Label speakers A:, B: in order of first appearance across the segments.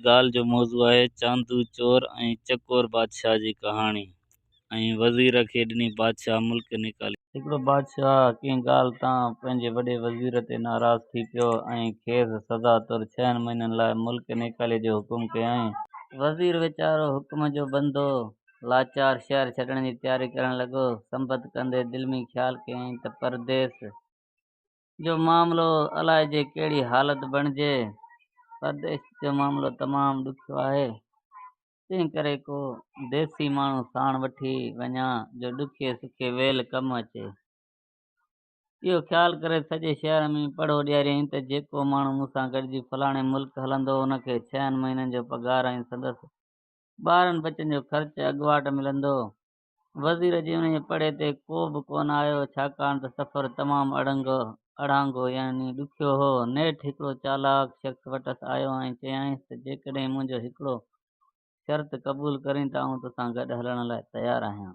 A: ڳالهه جو موضوع آهي چاندو چور ۽ چڪور بادشاهه جي ڪهاڻي ۽ وزير کي ڏني بادشاهه ملڪ نيڪالي. هڪڙو بادشاهه ڪنهن ڳالهه تان پنهنجي وڏي وزير تي ناراض ٿي پيو ۽ کيس سزا طور ڇهن مهينن لاء ملڪ نيڪالي جو حڪم ڪيائين. وزير ويچارو حڪم جو بندو لاچار شهر ڇڏڻ جي تياري ڪرڻ لڳو. سنبت ڪندي دل ۾ خيال ڪيائين ته پرديس جو معاملو الائي جي ڪهڙي حالت بڻجي، پرديسي جو معاملو تمام ڏکيو آهي، تنهنڪري ڪو ديسي ماڻهو ساڻ وٺي وڃان جو ڏکي سکي ويل ڪم اچي. اهو خيال ڪري سڄي شهر ۾ پڙهو ڏياريائين ته جيڪو ماڻهو مون سان گڏجي فلاڻي ملڪ هلندو ان کي ڇهن مهينن جو پگهار ۽ سندس ٻارن ٻچن جو خرچ اڳواٽ ملندو. وزير جي انهيء پڙهي تي ڪو به ڪونه آيو، ڇاڪاڻ ته سفر تمام اڙانگو يعني ڏکيو هو. نيٺ هڪڙو چالاڪ شخص وٽس آيو ۽ چيائينس ته جيڪڏهن منهنجو هڪڙو شرط قبول ڪرين ته آئون توسان گڏ هلڻ لاء تيار آهيان.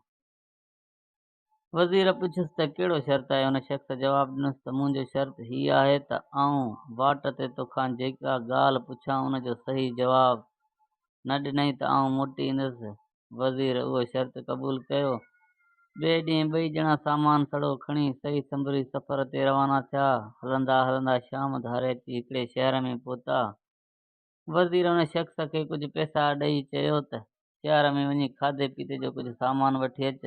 A: وزير پڇيس ته ڪهڙو شرط آهي؟ ان شخص جواب ڏنس ته منهنجو شرط هي آهي ته آئون واٽ تي توکان جيڪا ڳالهه پڇان ان جو صحيح جواب نه ڏنئين ته آئون موٽي ايندس وزير اهو شرط قبول ڪيو. ٻئي ڏينهن ٻئي ڄڻا سامان سڙو کڻي سهي سنڀري سفر تي روانا ٿيا. هلندا هلندا شام ڌاري اچي هڪڙي شهر ۾ پهتا. وزير ان شخص کي ڪجهه پئسا ڏئي چيو ته شهر ۾ وڃي کاڌي پيتي جو ڪجهه سامان وٺي اچ.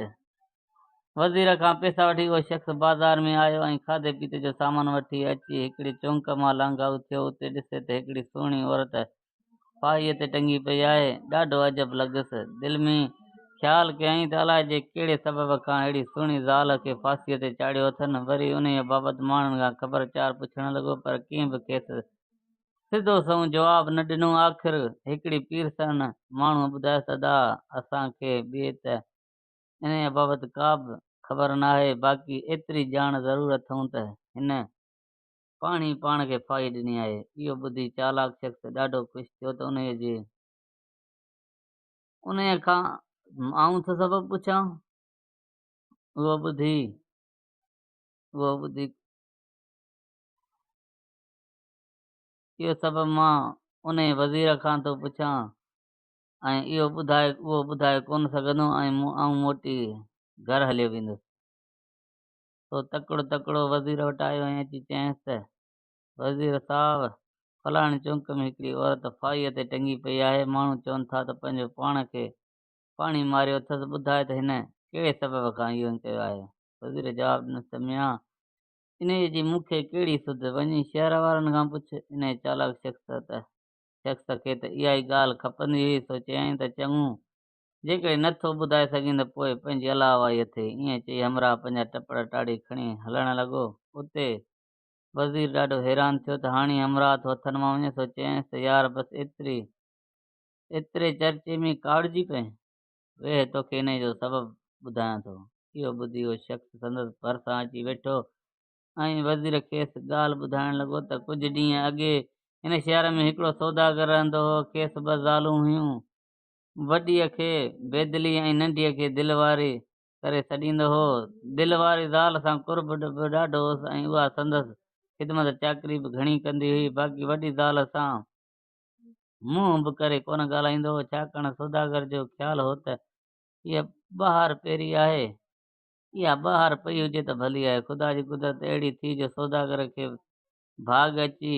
A: وزير کان پئسا وٺي اهو شخص بازار ۾ آيو ۽ کاڌي پيتي جو سامان وٺي اچي هڪڙي چونڪ مان لانگهائو ٿيو اتي ڏسي ته هڪڙي سهڻي عورت پاڙي تي ٽنگي پئي آهي، ڏاڍو عجب لڳس، دل ۾ خيال ڪيائين ته الائي جي ڪهڙي سبب کان اهڙي سهڻي زال کي ڦاسيء تي چاڙهيو اٿن، وري انهيء بابت ماڻهن کان خبر چار پڇڻ لڳو پر ڪنهن به کيس سڌو سنئون جواب نه ڏنو، آخر هڪڙي پير سهڻ ماڻهوء ٻڌايس ادا اسان کي به ته انهيء بابت ڪابه خبر ناهي، باقي ايتري ڄاڻ ضرور اٿئون ته هن. پاڻ ئي پاڻ کي ڦاهي ڏني آهي. اهو ٻڌي چالاڪ شخص ڏاڍو خوش ٿيو ته انهيء جي انهيء کان آئون ٿو سبب پڇان. اهو ٻڌي اهو ٻڌي اهو سبب مان انهيء وزير کان ٿو پڇان ۽ اهو ٻڌائي اهو ٻڌائي ڪونه سگهندو ۽ آئون موٽي گهر هليو ويندس. سو تڪڙو تڪڙو وزير وٽ آيو ۽ اچي چيائينس ته وزير صاحب فلاڻي چونڪ ۾ هڪڙي عورت ڦاهيء تي ٽنگي پئي آهي، ماڻهو چون ٿا ته پنهنجو پاڻ کي پاڻي ماريو اٿس، ٻڌاء ته هن ڪهڙي سبب کان اهو ائين ڪيو آهي؟ وزير جواب ڏنس ته ميان انهيء جي مون کي ڪهڙي سڌ، وڃي شهر وارن کان پڇ، انهيء چالاڪ شخص ته شخص کي ته اها ئي ڳالهه کپندي هئي، سو چيائين ته چڱو جيڪڏهن نه ٿو ٻڌائي سگهين ته پوء پنهنجي الله واهي اٿئي. ائين چئي همراهه پنهنجا ٽپڙ ٽاڙي کڻي هلڻ لڳو. اتي وزير ڏاڍو حيران ٿيو ته هاڻي همراهه ٿو هٿن مان وڃي سو چيائينس ته يار بس ايتري ايتري چرچي ۾ ڪاوڙجي پئين. ويهه توکي انهيء جو سبب ٻڌايان ٿو. اهو ٻڌي اهو شخص سندس ڀرسان اچي ويٺو ۽ وزير کيس ڳالهه ٻڌائڻ لڳو ته ڪجهه ڏينهن اڳي هن شهر ۾ هڪڙو سوداگر رهندو هو. کيس ٻه زالون هيون. وڏيء کي بيدلي ۽ ننڍيء کي دلواري ڪري سڏيندو هو. دلواري زال سان قرب به ڏاڍو هوس ۽ اها سندس خدمت چاڪري به گهڻي ڪندي هئي. باقي وڏي زال سان منهن به ڪري ڪونه ڳالهائيندو هو، ڇاڪاڻ سوداگر جو خيال هو ته هيء ٻهار پيري آهي، اها ٻهار پئي هجي ته ڀلي آهي. خدا جي قدرت اهڙي ٿي جو سوداگر کي ڀاڳ اچي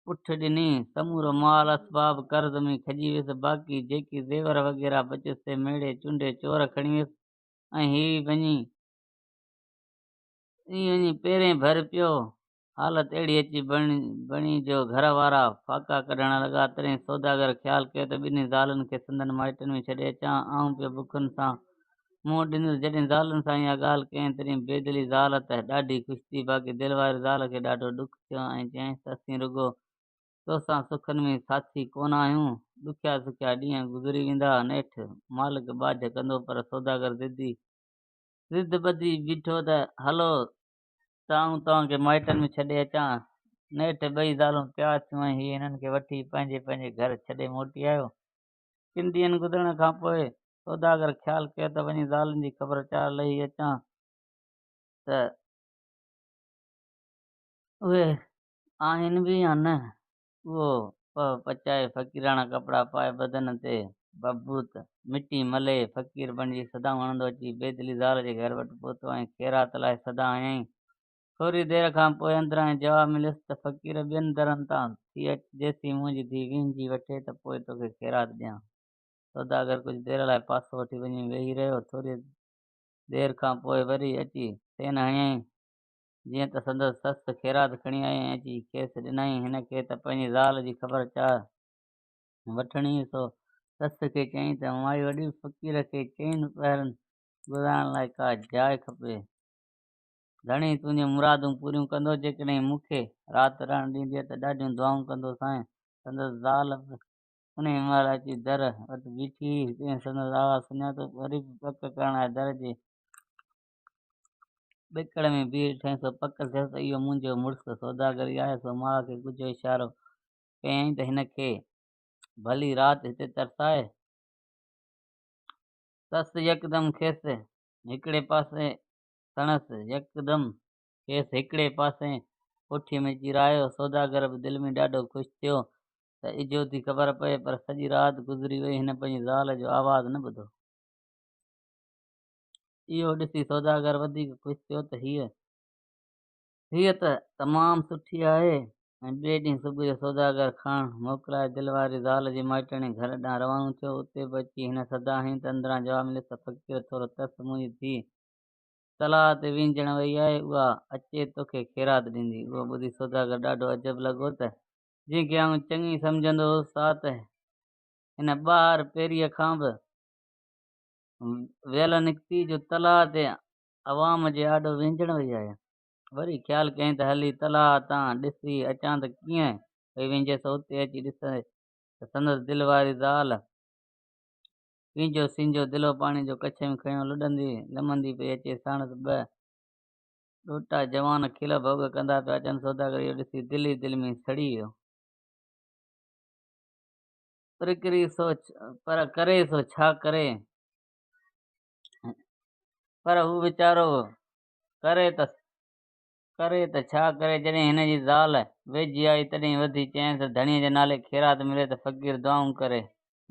A: پٺ ڏني، سمورو مال اسباب قرض ۾ کڄي ويس، باقي جيڪي زيور وغيره بچيس سي ميڙي چونڊي چور کڻي ويس ۽ هي وڃي هي وڃي پيرين ڀر پيو، حالت اهڙي اچي بڻي جو گهر وارا ڦاڪا ڪڍڻ لڳا، تڏهن سوداگر خيال ڪيو ته ٻنهي زالن کي سندن مائٽن ۾ ڇڏي اچان، آئون پيو بکن سان مون وٽ اينديون ته جڏهن زالن سان اها ڳالهه ڪيائين تڏهن بيدلي زال ته ڏاڍي خوش ٿي باقي دلواري زال کي ڏاڍو ڏک ٿيو ۽ چيائينس ته اسين رڳو توسان سکن ۾ ساٿي ڪونه آهيون، ڏکيا سکيا ڏينهن گذري ويندا، نيٺ مالڪ ٻاجهه ڪندو پر سوداگر ضدي ضد ٻڌي بيٺو ته هلو ته آئون توهان کي مائٽن ۾ ڇڏي اچان، نيٺ ٻئي زالون تيار ٿيون ۽ هيء هنن کي وٺي پنهنجي پنهنجي گهر ڇڏي موٽي آيو، ڪن ڏينهن گذرڻ کان پوء سوداگر خيال ڪيو ته وڃي زالن جي خبر چار لهي اچان ته اهي آهن به يا نه؟ اهو پهه پچائي فقيراڻا ڪپڙا پائي بدن تي ڀڀوت مٽي ملي فقير بڻجي صدائون هڻندو اچي بيدلي زال جي گهر وٽ پهتو ۽ خيرات لاء صدا هنيائين. ٿوري دير کان پوء اندران هي جواب مليس ته فقير ٻين درن تان ٿي اچ جيسين منهنجي ڌي ويهنجي وٺي ته پوء توکي خيرات ڏيان. سوداگر ڪجهه دير لاء پاسو وٺي وڃي ويهي رهيو. ٿوريء دير کان پوء وري اچي سين هنيائين، جيئن ته سندس سس خيرات کڻي آئي ۽ اچي کيس ڏنائين. هن کي ته پنهنجي زال جي خبر چار وٺڻي هئي، سو سس کي چيائين ته مائي وڏي، فقير کي چئن پهرن گذارڻ لاء ڪا جاء کپي. ڌڻي تنهنجون مرادون پوريون ڪندو، جيڪڏهن مون کي رات رهڻ ڏيندينء ته ڏاڍيون دعائون ڪندوسانء. سندس زال به انهيء مهل اچي در وٽ بيٺي هئي، تنهن سندس آواز سڃاتو، وري به پڪ ڪرڻ لاء در جي ٻڪڙ ۾ بيهي ٺهين سو پڪ ٿيس ته اهو منهنجو مڙس سوداگر ئي آهي، سو ماء کي ڳجهو اشارو ڪيائين ته هن کي ڀلي رات هتي ترساء. سس يڪدم کيس هڪڙي پاسي سڻس يڪدم کيس هڪڙي پاسي ڪوٺيء ۾ چيرايو، سوداگر به دل ۾ ڏاڍو خوش ٿيو، ته اجهو ٿي خبر پئي پر سڄي رات گذري وئي هن پنهنجي زال جو آواز نه ٻڌو. اهو ڏسي سوداگر وڌيڪ خوش ٿيو ته هيء هيء ته تمام سٺي آهي ۽ ٻئي ڏينهن صبح جو سوداگر کاڻ موڪلائي دل واري زال جي مائٽڻي گهر ڏانهن روانو ٿيو اتي به اچي هن سدا هينئن ته اندران جواب مليس ته فقير ٿورو ترس منهنجي ڌيء تلاء تي وينجهڻ وئي آهي اها اچي توکي خيرات ڏيندي اهو ٻڌي سوداگر ڏاڍو عجب لڳو ته جنهن کي آئون چڱي سمجهندو هوس سا ته هن ٻاهر پيريء کان به ويل نڪتي جو تلاء تي عوام جي آڏو وهنجڻ وئي آهي. وري خيال ڪيائين ته هلي تلاء تان ڏسي اچان ته ڪيئن پئي وهنجي سو اتي اچي ڏسي ته سندس دل واري زال پنهنجو سينجهو دلو پاڻي جو ڪڇي ۾ کنيو لڏندي لمندي پئي اچي ساڻس ٻه ڏوٽا جوان کل ڀوڳ ڪندا پيا اچن، سوداگر اهو ڏسي دل ئي دل ۾ سڙي ويو. پر ڪري سو پر ڪري سو ڇا ڪري؟ پر هو ويچارو ڪري ته ڪري ته ڇا ڪري؟ جڏهن هن جي زال ويجهي آئي، تڏهن وڌي چيائينس ته ڌڻيء جي نالي خيرات ملي ته فقير دعائون ڪري.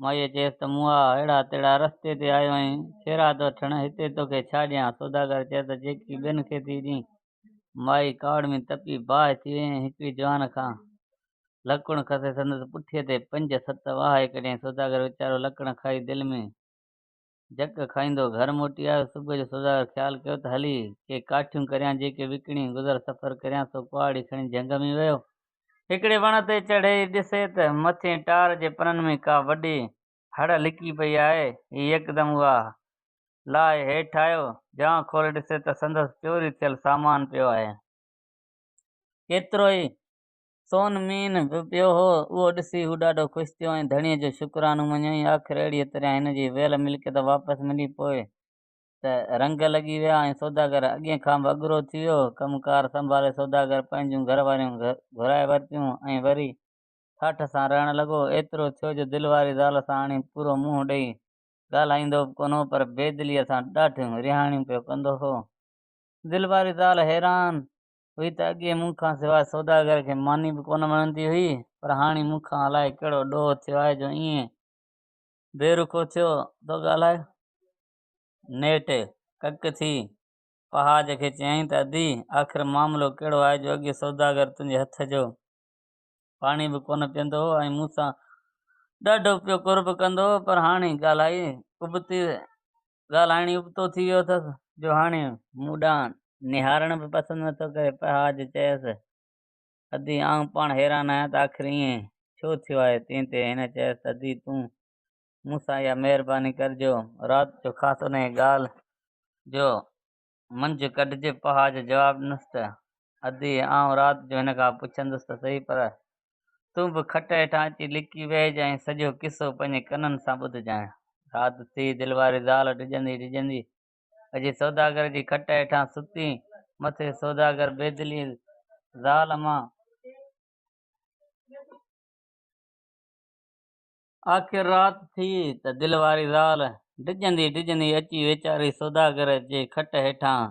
A: مائيء چيس ته مون آء اهڙا تهڙا رستي تي آيو آهين، خيرات وٺڻ، هتي توکي ڇا ڏيان؟ سوداگر چيس ته جيڪي ٻين کي ٿي ڏين. مائي ڪاوڙ ۾ تپي باهه ٿي وئي ۽ هڪڙي جوان کان لڪڻ کسي سندس پٺيء تي پنج ست واهه ڪڍيائين. سوداگر ويچارو لڪڻ کائي دل ۾. جهڪ کائيندو گهر موٽي آيو. صبح جو سوداگر خيال ڪيو ته هلي ڪي ڪاٺيون ڪريان جيڪي وڪڻي گذر سفر ڪريان سو ڪهاڙي کڻي جهنگ ۾ ويو. هڪڙي وڻ تي چڙهي ڏسي ته مٿين ٽار جي پنن ۾ ڪا وڏي هڙ لڪي پئي آهي. هي يڪدم اها لاهي هيٺ آيو. جان کولي ڏسي ته سندس چوري ٿيل سامان پيو آهي. ڪيترو ئي سون مين به پيو هو، اهو ڏسي هو ڏاڍو خوش ٿيو ۽ ڌڻيء جو شڪرانو مڃيائين. آخر اهڙيء طرح هن جي ويل ملڪيت واپس ملي پوء ته رنگ لڳي ويا ۽ سوداگر اڳين کان به اگرو ٿي ويو. ڪم ڪار سنڀالي سوداگر پنهنجون گهر واريون گهرائي ورتيون ۽ وري ٺاٺ سان رهڻ لڳو. ايترو ٿيو جو دل واري زال سان هاڻي پورو منهن ڏئي ڳالهائيندو به ڪونه هو پر بيدليء سان ڏاڍيون رهاڻيون پيو ڪندو هو. دل واري زال حيران هئي ته اڳي مون کان سواء سوداگر کي ماني به ڪونه مڃندي هئي، پر هاڻي مون کان الائي ڪهڙو ڏوهه ٿيو آهي جو ائين بي رخو ٿيو ٿو ڳالهائي. نيٺ ڪڪ ٿي پهاج کي چيائين ته ادي، آخر معاملو ڪهڙو آهي جو اڳي سوداگر تنهنجي هٿ جو پاڻي به ڪونه پيئندو هو ۽ مون سان ڏاڍو پيو قرب ڪندو هو، پر هاڻي ڳالهائي ابتي ڳالهائڻ ئي ابتو ٿي ويو اٿس جو هاڻي مون ڏانهن نهارڻ به پسند نه ٿو ڪري. پهاج چيس، ادي آئون پاڻ حيران آهيان ته آخر ائين ڇو ٿيو آهي؟ تنهن تي هن چيس ته ادي تون مون سان اها مهرباني ڪر جو رات جو خاص انهيء ڳالهه جو منجهه ڪڍجي پهاء جو جواب ڏنس ته، ادي، آئون رات جو هن کان پڇندس ته سهي پر تون به کٽ هيٺان اچي لڪي ويهج ۽ سڄو قصو پنهنجي ڪنن سان ٻڌجانء. رات ٿي، دلواري زال ڊڄندي ڊڄندي اچي سوداگر جي کٽ هيٺان ستي، مٿي سوداگر بيدلي زال مان. آخر رات ٿي ته دل واري زال ڊڄندي ڊڄندي اچي ويچاري سوداگر جي کٽ هيٺان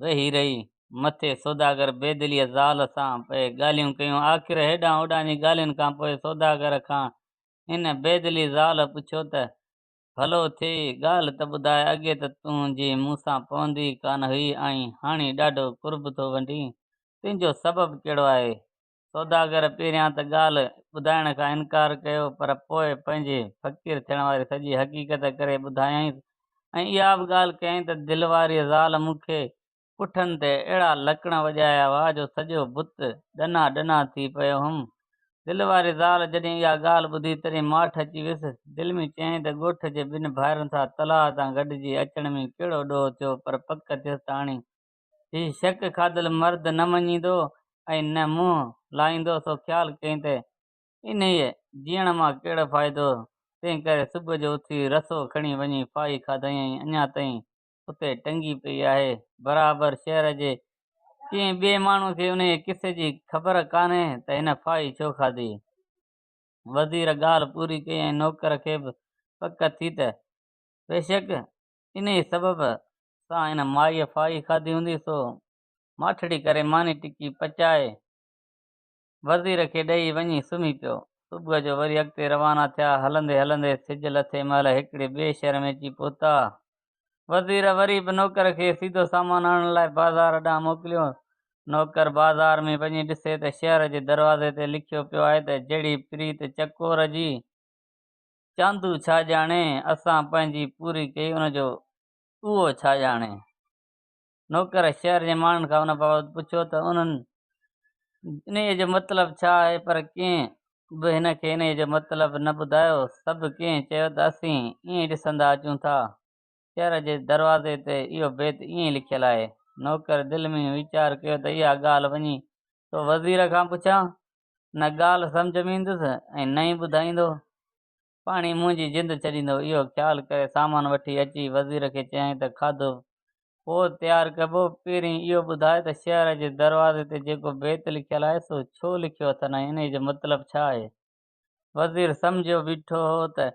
A: ويهي رهي. مٿي سوداگر بيدليء زال سان پئي ڳالهيون ڪيون. آخر هيڏانهن هوڏانهن جي ڳالهين کان پوء سوداگر کان هن بيدلي زال پڇيو ته، ڀلو ٿئي، ڳالهه ته ٻڌاء، اڳي ته تون جي مون سان پوندي ڪانه هئي ۽ هاڻي ڏاڍو قرب ٿو ونڊين، تنهنجو سبب ڪهڙو آهي؟ سوداگر پهريان ته ڳالهه ٻڌائڻ کان انڪار ڪيو پر پوء پنهنجي فقير ٿيڻ واري سڄي حقيقت ڪري ٻڌايائينس ۽ اها به ڳالهه ڪيائين ته دل واريء زال مون کي پٺن تي اهڙا لڪڻ وڄايا هئا جو سڄو بت ڏنا ڏنا ٿي پيو هئم. دل واري زال جڏهن اها ڳالهه ٻڌي تڏهن ماٺ اچي ويس. دل ۾ چيائين ته ڳوٺ جي ٻن ڀائرن سان تلاء تان گڏجي اچڻ ۾ ڪهڙو ڏوهه ٿيو پر پڪ ٿيس ته اڻي هي شڪ کاڌل مرد نه مڃيندو ۽ نه منهن لائيندو سو خيال ڪيائين ته انهيء جيئڻ مان ڪهڙو فائدو، تنهن ڪري صبح جو اٿي رسو کڻي وڃي ڦاهي کاڌائين ۽ اڃا تائين اتي ٽنگي پئي آهي. برابر شهر جي ڪنهن ٻئي ماڻهوء کي انهيء قصي جي خبر ڪانهي ته هن ڦاهي ڇو کاڌي. وزير ڳالهه پوري ڪئي ۽ نوڪر کي به پڪ ٿي ته بيشڪ انهيء سبب سان هن مائيء ڦاهي کاڌي هوندي سو ماٺڙي ڪري ماني ٽڪي پچائي وزير کي ڏئي وڃي سمهي پيو. صبح جو وري اڳتي روانا ٿيا. هلندي هلندي سج لٿي مهل هڪڙي ٻئي شهر ۾ اچي پهتا. وزير وري به نوڪر کي سيڌو سامان آڻڻ لاء بازار ڏانهن موڪليو. نوڪر بازار ۾ وڃي ڏسي ته شهر جي دروازي تي لکيو پيو آهي ته جهڙي پريت چڪور جي، چاندو ڇا ڄاڻي، اسان پنهنجي پوري ڪئي ان جو اهو ڇا ڄاڻي؟ نوڪر شهر جي ماڻهن کان ان بابت پڇيو ته انهن انهيء جو مطلب ڇا آهي، پر ڪنهن به هن کي انهيء جو مطلب نه ٻڌايو. سڀ ڪنهن چيو ته اسين ائين ڏسندا اچون ٿا. شهر جي دروازي تي اهو بيت ائين لکيل آهي. نوڪر دل ۾ ويچار ڪيو ته اها ڳالهه وڃي سو وزير کان پڇان، نه ڳالهه سمجهه ۾ ايندس ۽ نه ئي ٻڌائيندو. پاڻ ئي منهنجي جند ڇڏيندو، اهو خيال ڪري سامان وٺي اچي وزير کي چيائين ته کاڌو پوء تيار ڪبو، پهرين اهو ٻڌاء ته شهر جي دروازي تي جيڪو بيت لکيل آهي سو ڇو لکيو اٿن ۽ انهيء جو مطلب ڇا آهي؟ وزير سمجهيو بيٺو هو ته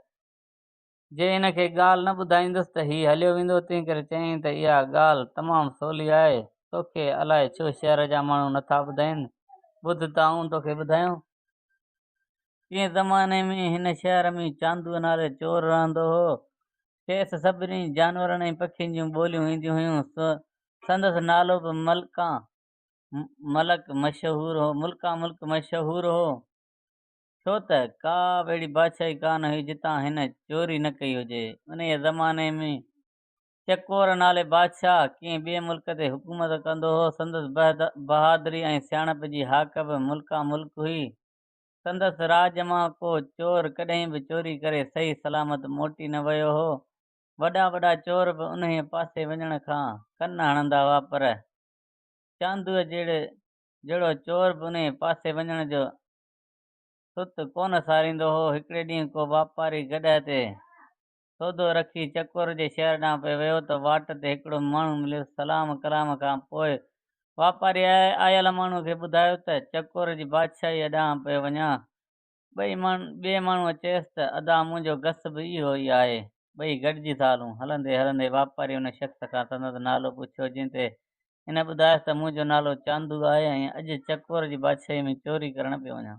A: جي ان کي ڳالهه نه ٻڌائيندس ته هي هليو ويندو، تنهنڪري چيائين ته اها ڳالهه تمام سولي آهي، توکي الاء ڇو شهر جا ماڻهو نٿا ٻڌائين، ٻڌ ته آئون توکي ٻڌايان. ڪنهن زماني ۾ هن شهر ۾ چاندوء نالي چور رهندو هو. کيس سڀني جانورن ۽ پکين جون ٻوليون اينديون هيون. سندس نالو به ملڪان ملڪ مشهور هو. ڇو ته ڪا به اهڙي بادشاهي ڪانه هئي جتان هن چوري نه ڪئي هجي. انهيء زماني ۾ چڪور نالي بادشاهه ڪنهن ٻئي ملڪ تي حڪومت ڪندو هو. سندس بهادري ۽ سياڻپ جي هاڪ به ملڪان ملڪ هئي. سندس راڄ مان ڪو چور ڪڏهن به چوري ڪري صحيح سلامت موٽي نه ويو هو. وڏا وڏا چور به انهيء پاسي وڃڻ کان ڪن هڻندا هئا پر چاندوء جهڙي جهڙو چور به انهيء پاسي وڃڻ جو ست ڪونه ساريندو هو. هڪڙي ڏينهن ڪو واپاري گڏهه تي سودو رکي چڪور جي شهر ڏانهن پئي ويو ته واٽ تي هڪڙو ماڻهو مليس، سلام ڪلام کان پوء واپاري آيل ماڻهوء کي ٻڌايو ته چڪور جي بادشاهيء ڏانهن پئي وڃان. ٻئي ٻئي ماڻهوء چيس ته ادا منهنجو گس به اهو ئي آهي. ٻئي گڏجي ٿا هلون. هلندي هلندي واپاري ان شخص کان سندس نالو پڇيو جنهن تي هن ٻڌايس ته منهنجو نالو چاندو آهي ۽ اڄ چڪور جي بادشاهيء ۾ چوري ڪرڻ پيو وڃان.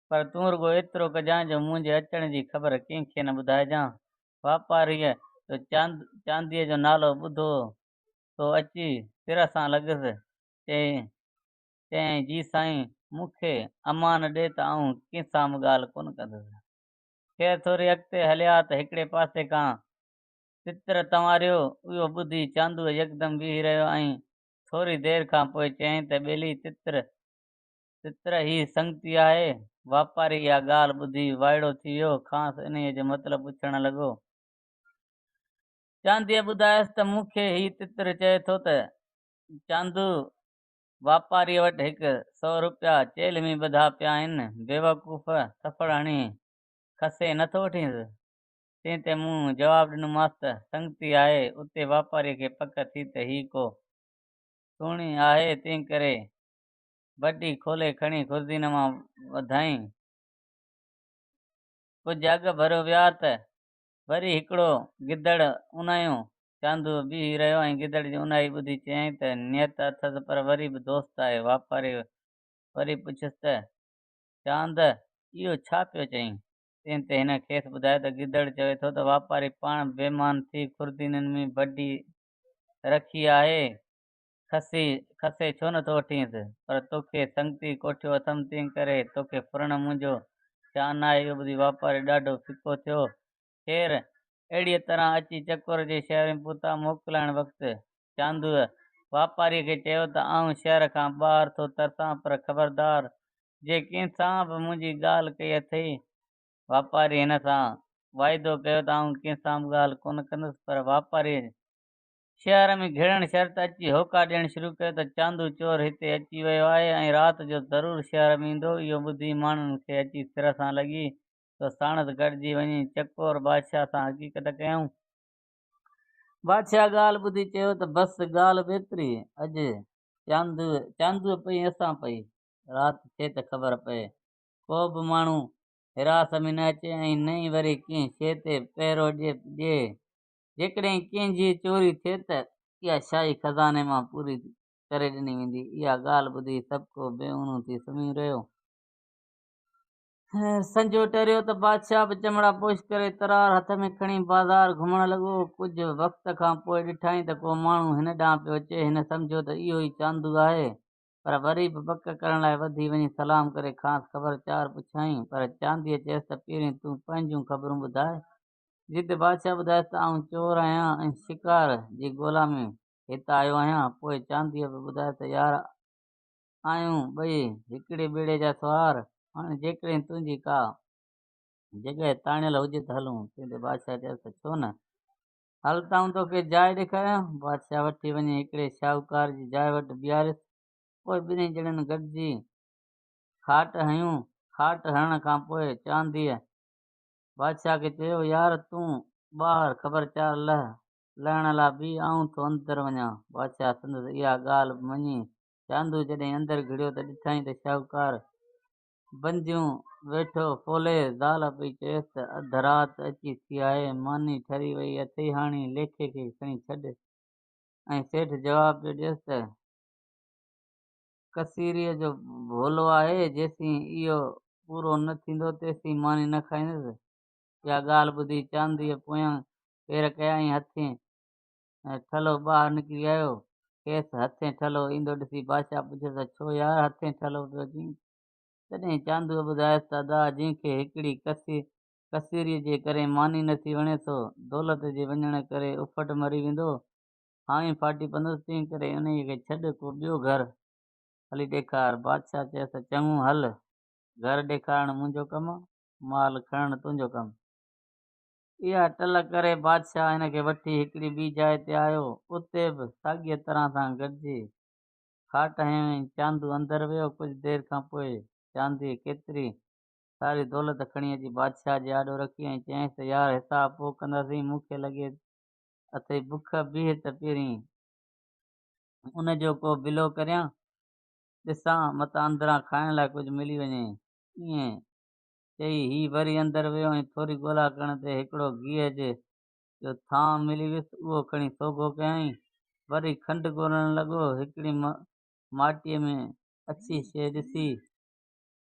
A: پر تون رڳو ايترو ڪجان جو منهنجي اچڻ جي خبر ڪنهن کي نه ٻڌائجان. واپاريء تو چاند چانديء جو نالو ٻڌو سو اچي سر سان لڳس. چيائين، چيائين جي سائين مون کي امان ڏي ته آئون ڪنهن سان به ڳالهه ڪونه ڪندس. خير ٿوري اڳتي هليا ته هڪڙي پاسي ڪان تتر تنواريو. اهو ٻڌي چاندوء يڪدم بيهي رهيو ۽ ٿوري دير کان پوء چيائين ته ٻيلي تتر ستر هي سنگتي آهي. واپاري اها ڳالهه ٻڌي وائڙو ٿي ويو. کانئس انهيء جو مطلب پڇڻ لڳو. چانديء ٻڌايس ته مون کي هي تتر چئي ٿو ته چاندو، واپاريء وٽ هڪ سؤ روپيا چيلهمي ٻڌا پيا آهن. بيوقوف ٿڦڙ هڻي کسي نه ٿو وٺينس؟ تنهن تي مون جواب ڏنومانس ته سنگتي آهي. اتي واپاريء کي پڪ ٿي ته هي ڪو سهڻي آهي، تنهنڪري بٽي کولي کڻي خرزين مان وڌائين. ڪجهه اڳ ڀر ويا ته وري هڪڙو گدڙ اونايو. چاندو بيهي رهيو ۽ گدڙ جي اونايي ٻڌي چيائين ته نيت اٿس پر وري به دوست آهي. واپاري وري پڇيس ته چاند اهو ڇا پيو چئين؟ تنهن تي هن کيس ٻڌايو ته گدڙ چوي ٿو ته واپاري پاڻ بيمان ٿي خرزينن ۾ بٽي رکي آهي. کسي کسي ڇو نه ٿو وٺينس، پر توکي سنگتي ڪوٺيو اٿم تنهن ڪري توکي ڦرڻ منهنجو شان ناهي. اهو ٻڌي واپاري ڏاڍو ڦڪو ٿيو. خير، اهڙيء طرح اچي چڪور جي شهر ۾ پهتا. موڪلائڻ وقت چاندوء واپاريء کي چيو ته آئون شهر کان ٻاهر ٿو ترسان، پر خبردار جي ڪنهن سان به منهنجي ڳالهه ڪئي اٿئي. واپاريء هن سان واعدو ڪيو ته آئون ڪنهن سان به ڳالهه ڪونه ڪندس، پر واپاريء شهر ۾ گهڙڻ شرط اچي هوڪا ڏيڻ شروع ڪيو ته چاندو چور هتي اچي ويو آهي ۽ رات جو ضرور شهر ۾ ايندو. اهو ٻڌي ماڻهن کي اچي سر سان لڳي ته ساڻس گڏجي وڃي چڪور بادشاهه سان حقيقت ڪيائون. بادشاهه ڳالهه ٻڌي چيو ته بس ڳالهه ٻيتري اڄ چاندو چاندو پئي اسان پئي رات ٿئي ته خبر پئي ڪو به ماڻهو حراس ۾ نه اچي ۽ نه ئي وري ڪنهن شيء تي پهرو ڏئي. جيڪڏهن ڪنهن جي چوري ٿئي ته اها شاهي خزاني مان پوري ڪري ڏني ويندي. اها ڳالهه ٻڌي سڀ ڪو بي اونو ٿي سمهيو رهيو. سنجو ٽريو ته بادشاهه به چمڙا پوش ڪري ترار هٿ ۾ کڻي بازار گهمڻ لڳو. ڪجهه وقت کان پوء ڏٺائين ته ڪو ماڻهو هن ڏانهن پيو اچي. هن سمجهيو ته اهو ئي چاندو آهي پر وري به پڪ ڪرڻ لاء وڌي وڃي سلام ڪري کانئس خبر چار پڇيائين پر چانديء چيس ته پهرين تون پنهنجون خبرون ٻڌاء جتي بادشاهه ٻڌائيس ته آئون چور آهيان ۽ شڪار جي ڳولا ۾ هت آيو آهيان. پوء چانديء به ٻڌايو ته يار آهيون ٻئي هڪڙي ٻيڙي جا سوار، هاڻي جيڪڏهن تنهنجي ڪا جڳهه تاڻيل هجي ته هلون. تنهن تي بادشاهه چيس ته ڇو نه، هل ته آئون توکي جاء ڏيکاريان. بادشاهه وٺي وڃي هڪڙي شاهوڪار جي جاء وٽ بيهاريس. پوء ٻنهي ڄڻن گڏجي کاٽ هنيون. کاٽ هڻڻ کان پوء چانديء بادشاهه کي چيو، يار تون ٻاهر خبر چار لهه، لهڻ لا بيهه آئون ٿو اندر وڃان. بادشاهه سندس اها ڳالهه به مڃي. چاندو جڏهن اندر گهڙيو ته ڏٺائين ته شاهوڪار بنديون ويٺو ڦولي، زال پئي چيس ته اڌ رات اچي ٿي آهي، ماني ٺري وئي اٿئي هاڻي ليکي کي کڻي ڇڏ ۽ سيٺ جواب پيو ڏيس ته. ڪسيريء جو ڀولو آهي، جيسين اهو پورو نه ٿيندو تيسين ماني نه کائيندس. اها ڳالهه ٻڌي چانديء پويان پير ڪيا ۽ هٿين ٺلهو ٻاهر نڪري آيو. کيس هٿين ٺلهو ايندو ڏسي بادشاهه پڇيس ته ڇو يار هٿين ٺلهو پيو چين؟ تڏهن چاندوء ٻڌايس ته ادا جنهن کي هڪڙي ڪسيريء جي ڪري ماني نٿي وڻي سو دولت جي وڃڻ ڪري اڦٽ مري ويندو. هاڻي ڦاٽي پندس تنهن ڪري انهيء کي ڇڏ ڪو ٻيو گهر هلي ڏيکار. بادشاهه چيس چڱو هل، گهر ڏيکارڻ منهنجو ڪم، مال کڻڻ تنهنجو ڪم. اها ٽل ڪري بادشاهه هن کي وٺي هڪڙي ٻي جاء تي آيو، اتي به ساڳيء طرح سان گڏجي کاٽ هنيائين. چاندو اندر ويو، ڪجهه دير کان پوء چانديء ڪيتري ساري دولت کڻي اچي بادشاهه جي آڏو رکي ۽ چيائينس ته يار حساب پوء ڪنداسين، مون کي لڳي اٿئي بک بيھ ته پھرين ان جو ڪو بلو ڪريان، ڏسان متان اندران کائڻ لاء ڪجھ ملي وڃي. ائين چئي ھي وري اندر ويو ۽ ٿوري ڳولا ڪرڻ تي ھڪڙو گيھ جي جو ٿانء ملي ويس اھو کڻي سوگھو ڪيائين. وري کنڊ ڳولڻ لڳو. ھڪڙي ماٽيء ۾ اڇي شيء ڏسي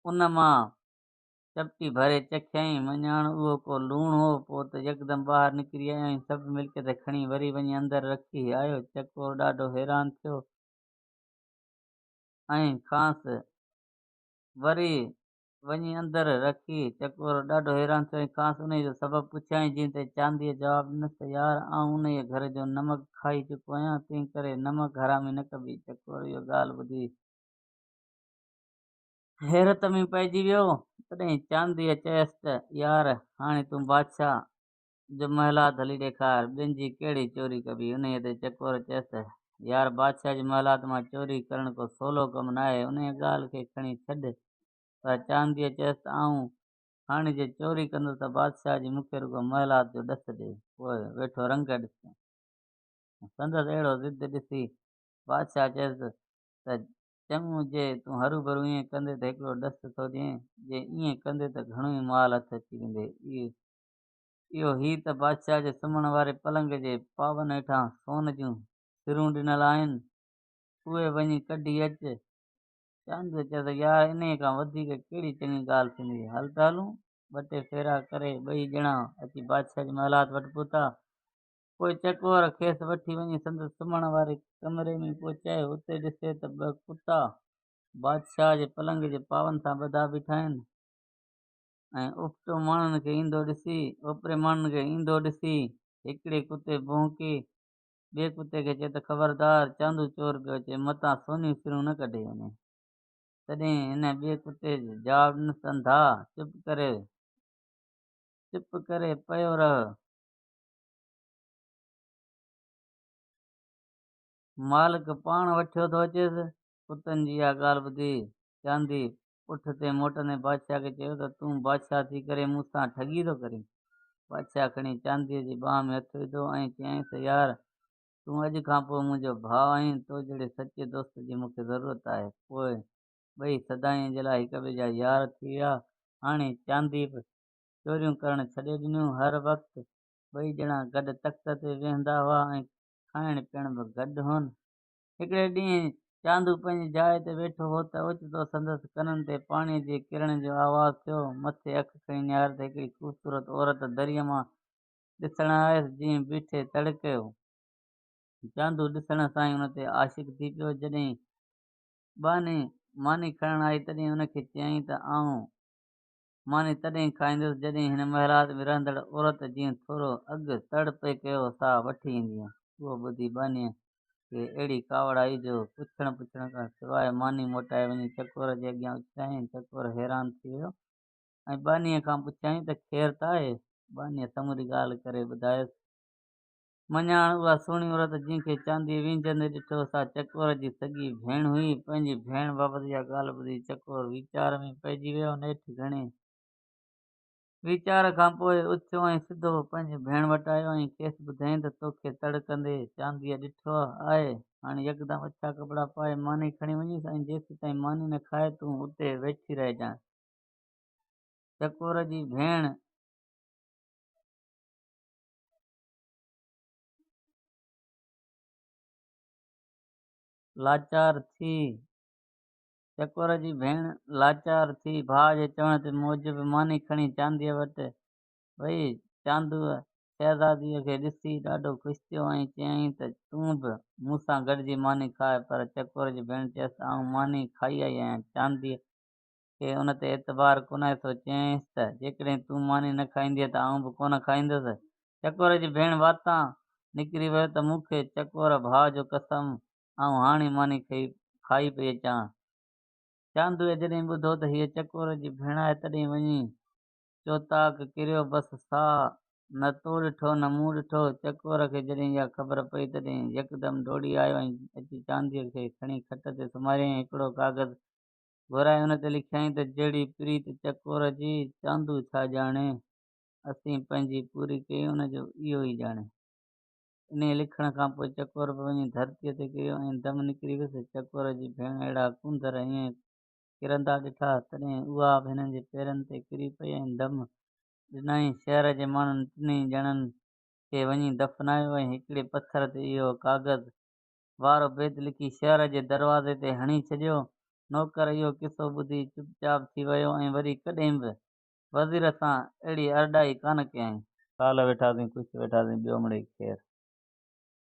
A: ان مان چپٽي ڀري چکيائين، مڃاڻ اهو ڪو لوڻ هو. پوء ته يڪدم ٻاهر نڪري آيو ۽ سڀ ملڪيت کڻي وري وڃي اندر رکي آيو. چڪور ڏاڍو حيران ٿيو ۽ کانئس وري وڃي اندر رکي چڪور ڏاڍو حيران ٿيو ۽ کانئس انهيء جو سبب پڇيائين، جنهن تي چانديء جواب ڏنس ته يار آئون انهيء گهر جو نمڪ کائي چڪو آهيان، تنهنڪري نمڪ حرامي نه ڪبي. چڪور اهو ڳالهه ٻڌي. حيرت ۾ پئجي ويو، تڏهن چانديء چيس ته، يار! هاڻي تون بادشاهه جو محلات هلي ڏيکار، ٻين جي ڪهڙي چوري ڪبي؟ انهيء تي چڪور چيس ته، يار! بادشاهه جي محلات مان چوري ڪرڻ ڪو سولو ڪم ناهي، انهيء ڳالهه کي کڻي ڇڏ. پر چانديء چيس ته، آئون هاڻي جي چوري ڪندس ته بادشاهه جي مون کي رڳو محلات جو ڏس ڏي، پوء ويٺو رنگ ڏسجان. سندس اهڙو ضد ڏسي بادشاهه چيس ته، چڱو جي تون هروڀرو ائين ڪندين ته هڪڙو ڏس ٿو ڏيئين، جي ائين ڪندين ته گهڻو ئي مال هٿ اچي ويندي. اهو هي ته بادشاهه جي سمهڻ واري پلنگ جي پاون هيٺان سون جون سرون ڏنل آهن، اهي وڃي ڪڍي اچ. چانڊيو چيس ته يار انهيء کان وڌيڪ ڪهڙي چڱي ڳالهه ٿيندي، هل ته هلون. ٻه ٽي ڦيرا ڪري ٻئي ڄڻا اچي بادشاهه جي محلات وٽ پهتا. پوء چڪوار کيس وٺي وڃي سندس سمهڻ واري ڪمري ۾ پهچائي اتي ڏسي ته ٻه ڪتا بادشاهه جي پلنگ جي پاون سان ٻڌا بيٺا آهن ۽ اپٽو ماڻهن کي ايندو ڏسي اوپري ماڻهن کي ايندو ڏسي هڪڙي ڪتي ڀونڪي ٻئي ڪتي کي چئي ته خبردار چاندو چور پيو اچي متان سونيون سرون نه ڪڍي وڃي تڏهن هن ٻئي ڪتي جواب ڏنس انڌا چپ ڪري چپ ڪري پيو رهه مالڪ پاڻ وٺيو ٿو اچيس. ڪتن جي اها ڳالهه ٻڌي چاندي اٺ تي موٽندي بادشاهه کي چيو ته تون بادشاهه ٿي ڪري مون سان ٺڳي ٿو ڪرين. بادشاهه کڻي چاندي جي ٻانهن ۾ هٿ وڌو ۽ چيائينس يار تون اڄ کان پوء منهنجو ڀاء آهين تو جهڙي سچي دوست جي مون کي ضرورت آهي. پوء ٻئي سدائين جي لاء هڪٻئي جا يار ٿي ويا. هاڻي چاندي به چوريون ڪرڻ ڇڏي ڏنيون. هر وقت ٻئي ڄڻا گڏ تخت تي ويهندا هئا ۽ کائڻ پيئڻ به گڏ هون. هڪڙي ڏينهن چاندو پنهنجي جاء تي ويٺو هو ته اوچتو سندس ڪنن تي پاڻيء جي ڪرڻ جو آواز ٿيو. مٿي اک کڻي نهاريو ته هڪڙي خوبصورت عورت دريء مان ڏسڻ آيس، جنهن بيٺي تڙ ڪيو. چاندو ڏسڻ سان ئي ان تي عاشق ٿي پيو. جڏهن ٻانهي ماني کڻڻ آئي تڏهن ان کي چيائين ته آئون ماني تڏهن کائيندس جڏهن هن محلات ۾ رهندڙ عورت جنهن ٿورو اڳ تڙ پئي ڪيو سا وٺي ايندينء. اهو ٻڌي ٻانهيء کي اهڙي ڪاوڙ آئي جو پڇڻ پڇڻ کان سواء ماني موٽائي وڃي چڪور جي اڳيان اڇلايائين. چڪور حيران ٿي ويو ۽ ٻانهيء کان پڇيائين ته خير ته آهي؟ ٻانهيء سموري ڳالهه ڪري ٻڌايس. مڃاڻ اها سهڻي عورت جنهن کي چاندي وينجهندي ڏٺو سا چڪور جي سڳي ڀيڻ هئي. پنهنجي ڀيڻ بابت اها ڳالهه ٻڌي چڪور ويچار ۾ پئجي ويو. نيٺ گهڻي ويچار کان پوء اٿيو ۽ سڌو پنهنجي ڀيڻ وٽ آيو ۽ کيس ٻڌيائين ته توکي تڙ ڪندي چانديء ڏٺو آهي. هاڻ يڪدم اڇا ڪپڙا پائي ماني کڻي وڃيس ۽ جيسيتائين ماني نه کائي تون اتي ويٺي رهجان. چڪور جي ڀيڻ. لاچار ٿي چڪور جي ڀيڻ لاچار ٿي ڀاء جي چوڻ تي موجب ماني کڻي چانديء وٽ وئي چاندوء شهزاديء کي ڏسي ڏاڍو خوش ٿيو ۽ چيائين ته تون به مون سان گڏجي ماني کاء پر چڪور جي ڀيڻ چيس ته آئون ماني کائي آئي آهيان چانديء کي ان تي اعتبار ڪونهي سو چيائينس ته جيڪڏهن تون ماني نه کائيندينء ته آئون به ڪونه کائيندس. چڪور جي ڀيڻ واتان نڪري ويو ته مون کي چڪور ڀاء جو قسم آئون هاڻي ماني کائي پئي اچان. چاندوء جڏهن ٻڌو ته هيء چڪور جي ڀيڻ آهي تڏهن وڃي چوطاق ڪريو بس ساهه نه تو ڏٺو نه مون ڏٺو. چڪور کي جڏهن اها خبر پئي تڏهن يڪدم ڊوڙي آيو ۽ اچي چانديء کي کڻي کٽ تي سمهاريائين ۽ هڪڙو ڪاغذ گهرائي ان تي لکيائين ته جهڙي پريت چڪور جي، چاندو ڇا ڄاڻي؟ اسين پنهنجي پوري ڪئي ان جو اهو ئي ڄاڻي. انهيء لکڻ کان پوء چڪور به وڃي ڌرتيء تي ڪريو ۽ دم نڪري ويس. چڪور جي ڀيڻ اهڙا ڪونڌر ائين ڪرندا ڏٺا، تڏهن اها به هنن جي پيرن تي ڪري پئي ۽ دم ڏنائين. شهر جي ماڻهن ٽنهي ڄڻن کي وڃي دفنايو ۽ هڪڙي پٿر تي اهو ڪاغذ وارو بيت لکي شهر جي دروازي تي هڻي ڇڏيو. نوڪر اهو قصو ٻڌي چپ چاپ ٿي ويو ۽ وري ڪڏهن به وزير سان اهڙي ارڏائي ڪانه ڪيائين. ڪالهه ويٺاسين ڪش ويٺاسين ٻيو مڙئي خير.